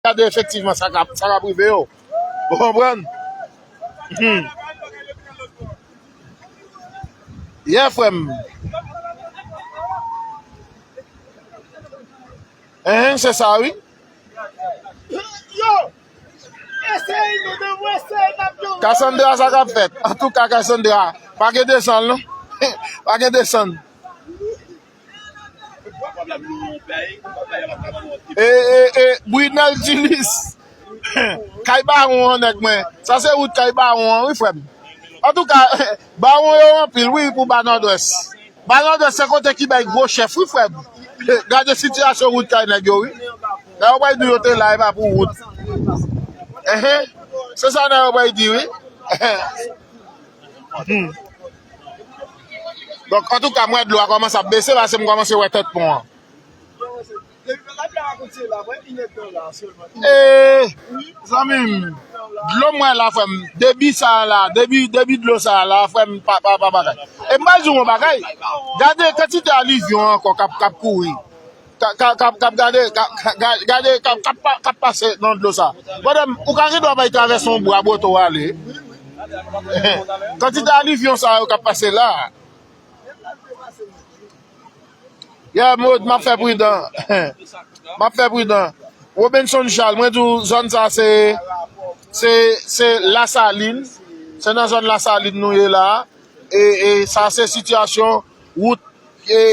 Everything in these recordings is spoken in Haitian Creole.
Gade efektivman sa kap sa kap rive yo. Ou konprann? Hum. Yeah frè m. Hein se sa wi. Cassandra sa kap fèt. Antouka Cassandra pa gen desann non. Pa gen desann. Brunel Dinis Kay bawon an nèg mwen Sa se wout kay bawon an wi frè m Antouka bawon yo anpil wi pou ba nòdwès Ba nòdwès se kote ki bay gwo chèf wi frè m Gade sitiyasyon wout kay nèg yo wi Nèg yo bay di yo te la epa pou wout Se sa nèg yo bay di wi Donk antouka m wè dlo a kòmanse ap bese paske m kòmanse wè tèt pon an. Eee zanmim dlo m wè la frèm debi sa la debi dlo sa la frèm pa bagay e m pral di w yon bagay gade kantite alivyon ankò kap kouri. Ka ka kap kap gade ka ka gade ka ka kap kap pase nan dlo sa madame ou ka gendwa bay travèse yon bwa bote w ale kantite alivyon sa yo kap pase la yeah Maude map fè pridan map fè pridan Robinson Charles mwen di w zòn sa se se se la salin se nan zòn la salin nou ye la e e sa se sitiyasyon wout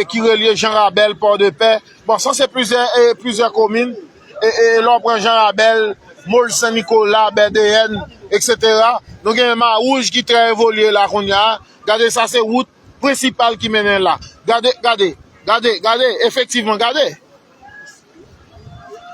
ki relye Jan Rabèl, Pòdepè, bon sa se plizyè e plizyè komin e e lè w pran Jan Rabèl, Mol Sen Nikola, Bèdeyèn eksetera nou gen Mawouj ki trè evolye la kounya a, gade sa se wout prensipal ki mennen la gade, gade, gade, gade efektivman gade.